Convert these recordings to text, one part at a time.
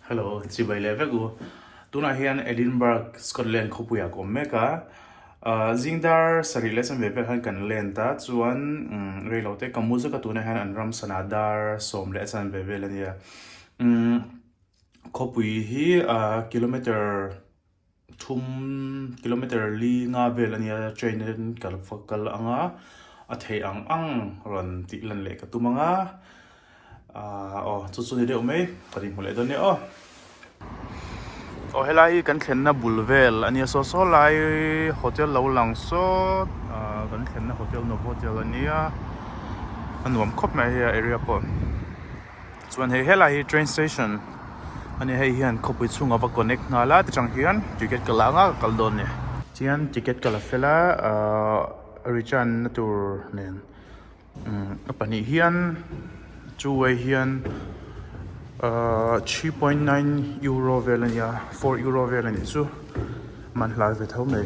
Hello, chibai leh vek u. Tunah hian Edinburgh, Scotland khawpuiah ka awm mek a. Zingdar sarih leh chanve vel han kan lent a, chuan reilo te ka mu zet a tunah hian an ram sana dar sawm leh a chanve vel a nia. Khawpui hi kilometre Thum kilometer li nga vel a nia train in kal va kal ang a, a theih ang ang rawn tih lan leh ka tum ang a, aah aw chu chu ni deuh mai kan inhmu leh dawn nia aw. Aw he lai hi kan thlenna bul vel a nia saw saw lai hotel lo lang sawt aah kan thlenna hotel novotel a nia a nuam khawp mai a hei a area pawh. chuan hei helai hi train station a ni hei hian khawpui chhunga va connect nghal a tichang hian ticket ka la anga ka kal dawn a ni chuan ticket ka la fel a ahh return na tur nen umm a pahnih hian chu wai hian ahh three point nine euro vel a ni a four euro vel a nih chu man hla ve tho mai.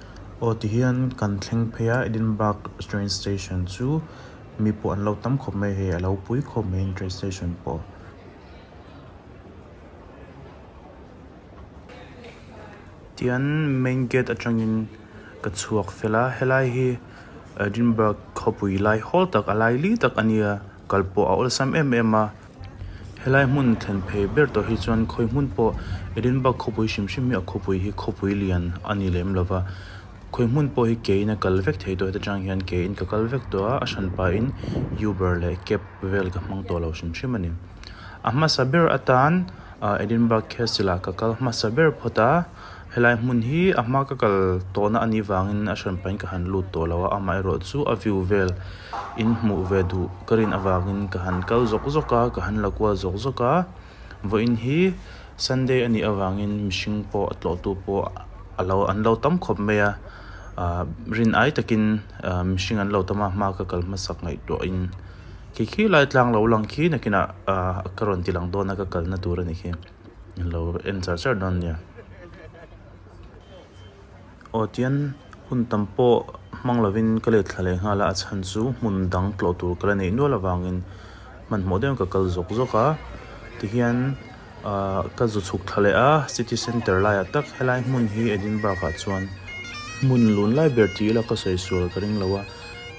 Aw tihian kan thleng phei a Edinburgh train station chu mi pawh an lo tam khawp mai hei a lo pui khawp mai a ni train station pawh. Tihian main gate atangin ka chhuak fel a helai hi Edinburgh khawpui lai hawl tak a laili tak a nia kal pawh a awlsam em em a. Helai hmun thlen phei ber tawh hi chuan khawi hmun pawh Edinburgh khawpui hrim hrim hi a khawpui hi khawpui lian a ni lem lo va, khawi hmun pawh hi keiin a kal vek thei tawh heta chang hian keiin ka kal vek tawh a, a hran pahin Yuber leh Kep vel ka hmang tawh lo hrim hrim a ni. A hmasa ber atan Edinburgh Castle-ah ka kal hmasa ber phawt a. Helai hmun hi a hma ka kal tawhna a nih vangin a hran pahin ka han lut tawh lo a, amaherawh chu a view vel in hmuh ve duh ka rin avangin ka han kal zawk zawk a, ka han la kual zawk zawk a, vawiin hi Sunday a nih avangin mihring pawh a tlawhtu pawh a lo an lo tam khawp mai a, rin ai takin mihring an lo tam a, hma ka kal hmasak ngaihtuahin khi khi lai tlang lo lang khi nakinah ka rawn tilang dawn a ka kalna tur a ni khi. lo en char char dawn nia. Aw tian hun tam pawh hmang lovin ka let thla leh nghal a, a chhan chu hmun dang tlawh tur ka la neih nual avangin hmanhmawh deuhin ka kal zawk zawk a, tihian ahh ka zu chhuk thla leh a city centre laiah tak helai hmun hi Edinburgh ah chuan hmun lun lai ber ti ila ka sawi sual ka ring lo a,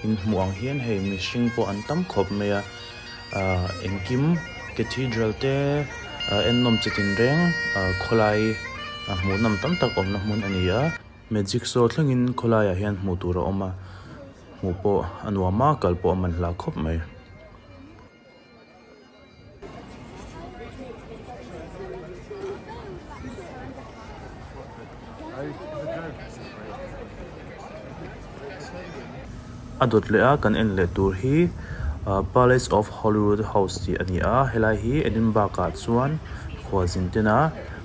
inhmuh ang hian hei mihring pawh an tam khawp mai a. Engkim Cathedral te ennawm che tin reng khawlai hmuhnam tam tak awmna hmun a ni a. Magic show thlengin khawlaiah hian hmuh tur a awm a, hmuh pawh a nuam a, kal pawh a man hlah khawp mai. A dawt leh a kan en leh tur hi Palace of Holyrood House tih a ni a helai hi Edinburgh ah chuan khualzin tena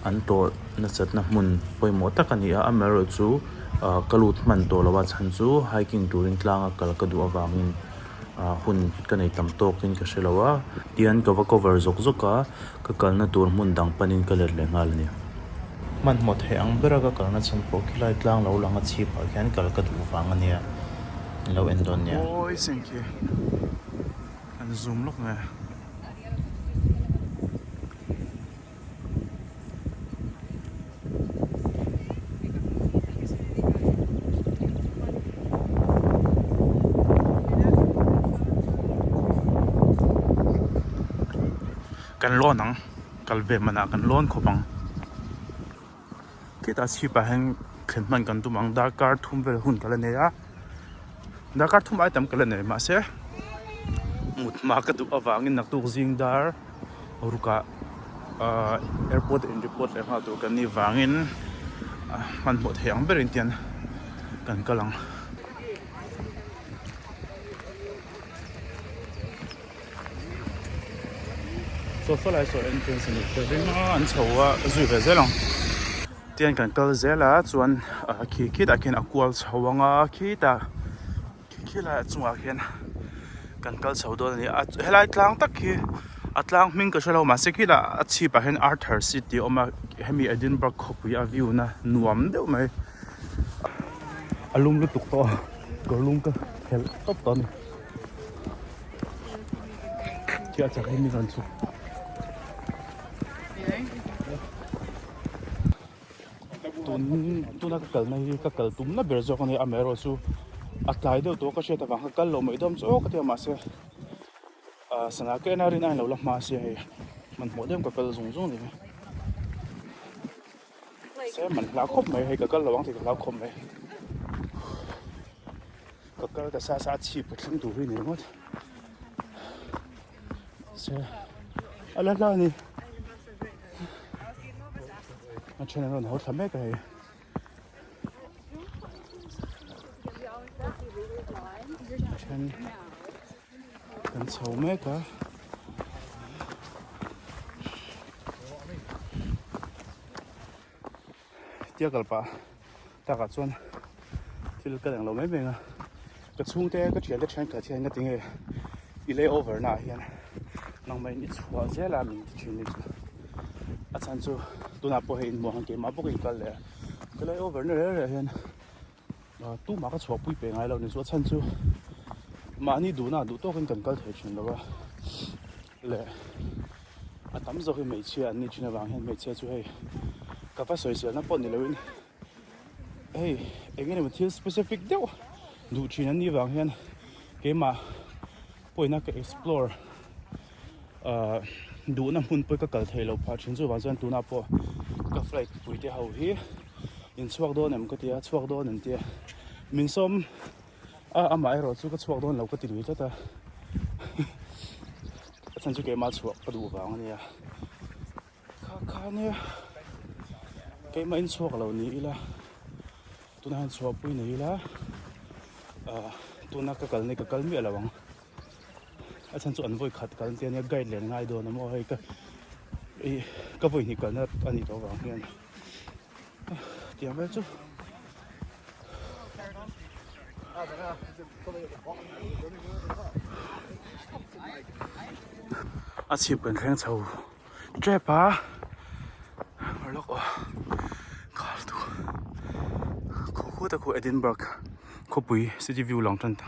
an tawlh nasatna hmun pawimawh tak a ni a amah erawh chu ka lut hman tawh lo a chhan chu hiking turin tlanga kal ka duh avangin. Ahh hun ka nei tam tawk in ka hre lo a. Tian ka va cover zawk zawk a, ka kalna tur hmun dang pan in ka let leh nghal a ni. Hmanhmawt heh ang ber a ka kalna chhan pawh khilai tlang lo lang a chhip ah khian kal ka duh vang a nia in lo en dawn nia. Awi seng khi an zum lawk nge. kan lawn ang kal ve manah kan lawn khawp ang. Khitah chhip ah hian thlen hman kan tum ang darkar thum vel hun ka la nei a darkar thum ai tam ka la nei mahse mut hma ka duh avang in naktuk zing dar ruk ah ah airport in report leh nghal tur kan ni vang in ah hman hmawh theih ang ber in tian kan kal ang. Sofa leh saw entrance a nih hmel hle mai a an chho a zui ve zel ang tian kan kal zel a chuan ah khi khitah khian a kual chho ang a khitah khi khi laiah chungah khian kan kal chho dawn a ni a helai tlang tak hi a tlang hming ka hre lo mahse khitah a chhip ah hian arthur seat tih a awm a hemi edinburgh khawpui a view na nuam deuh mai a lum lutuk tawh a kawrlum ka khelh tawp tawh a ni. Chiah chak hi mi zan chuk. Tun tuna ka kalna hi ka kal tumna ber zawk a ni a mero chu a tlai deuh tawh ka hriat avang kha kal lo mai dawm zawk ka tia mahse a sana keh na rin ain lo la hmase hei hmanhmawh deuh ka kal zung zung ni. Sir man hla khawp mai hei ka kal lo ang thei ka hlau khawp mai ka kal ka sa sa chhip ka thleng tur hi nei ngawt sir ala hla ni a chen ron ho thla mek hei chen Kan chho mek a. Tia kal pa tak ah chuan thil ka leng lo mai mai a. Ka chhung te ka thian te thian khat hian ka ti nge i lay over na ah hian nangmah in i chhuah zel a min ti thin hi chu. A chhan chu tunah pawh hei inhmuah ang keh mah bawk a inkal leh a. Ka lay over na rel rel hian. Tumah ka chhuak pui pe ngai lo ni chu a chhan chu mahni duhna duh tawkin kan kal thei thin lo a le a tam zawk hi hmeichhia an nih thin avang hian hmeichhia chu hei ka va sawi sialna pawh ni loin hei eng emaw thil specific deuh duh thin an nih vang hian keimah Pawi na ka explore ah duhna hmun pawh ka kal thei lo phah thin chuvang chuan tunah pawh ka flight puite ho hi in chhuak dawn em ka tia chhuak dawn em tia min sawm a amah erawh chu ka chhuak dawn lo ka ti lui tlat a a chhan chu keimah chhuah ka duh vang a nia. Kha kha nia keimah in chhuak lo ni ila tuna hian chhuah pui nei ila ah tuna ka kal nei ka kal miah lo ang a chhan chu an vawi khat kal tia nia guide len ngai dawn a maw hei ka i ka vawi hnih kalna a nih loh vang hian tiang vel chu a chhip kan thleng chho. Trap a ngah lawk aw khal tu khaw khut a khaw Edinburgh khawpui city view lang tan ta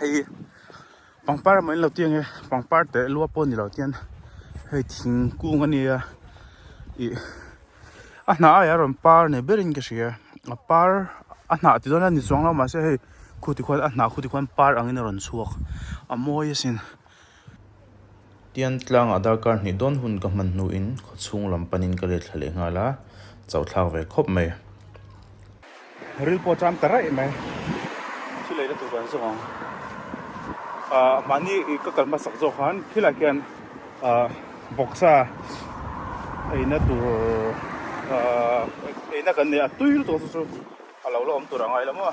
hei hi pangpar emaw in lo tiang e pangpar teh lua pawh a ni lo tian hei thingkung a nia ih a hnah aia rawn par nei ber in ka hria a par a hnah ti dawn a ni chuang lo mahse hei khu ti khuan a hnah khu ti khuan par ang in a rawn chhuak a mawi a sin. Tian tlang Aadhar Card hnih dawn hun ka hman hnu in khaw chhung lam panin ka let thla leh nghal a, chauh thlak ve khawp mai. Ril pawh ṭam ta raih mai. Thil lei na tur kan zawng ang. Ahh mahni ka kal hmasak zawk khan khilai khian ahh boxa eina tur ahh eina kan nei a tui lutuk chu chu a lo la awm tur a ngai hlawm a.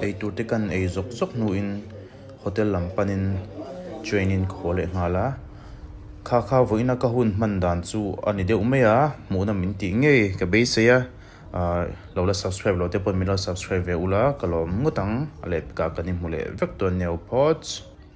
Eitur te kan ei zawk zawk hnu in hotel lam pan in train in ka haw leh nghal a, kha kha vawi na ka hun hman dan chu ani deuh mai a, hmuh na min ti ngei ka beisei a, ah lo la subscribe lo te pawh min lo subscribe ve ula ka lawm ngawt ang, a let ka kan i hmu leh vek dawn nia u Pawch.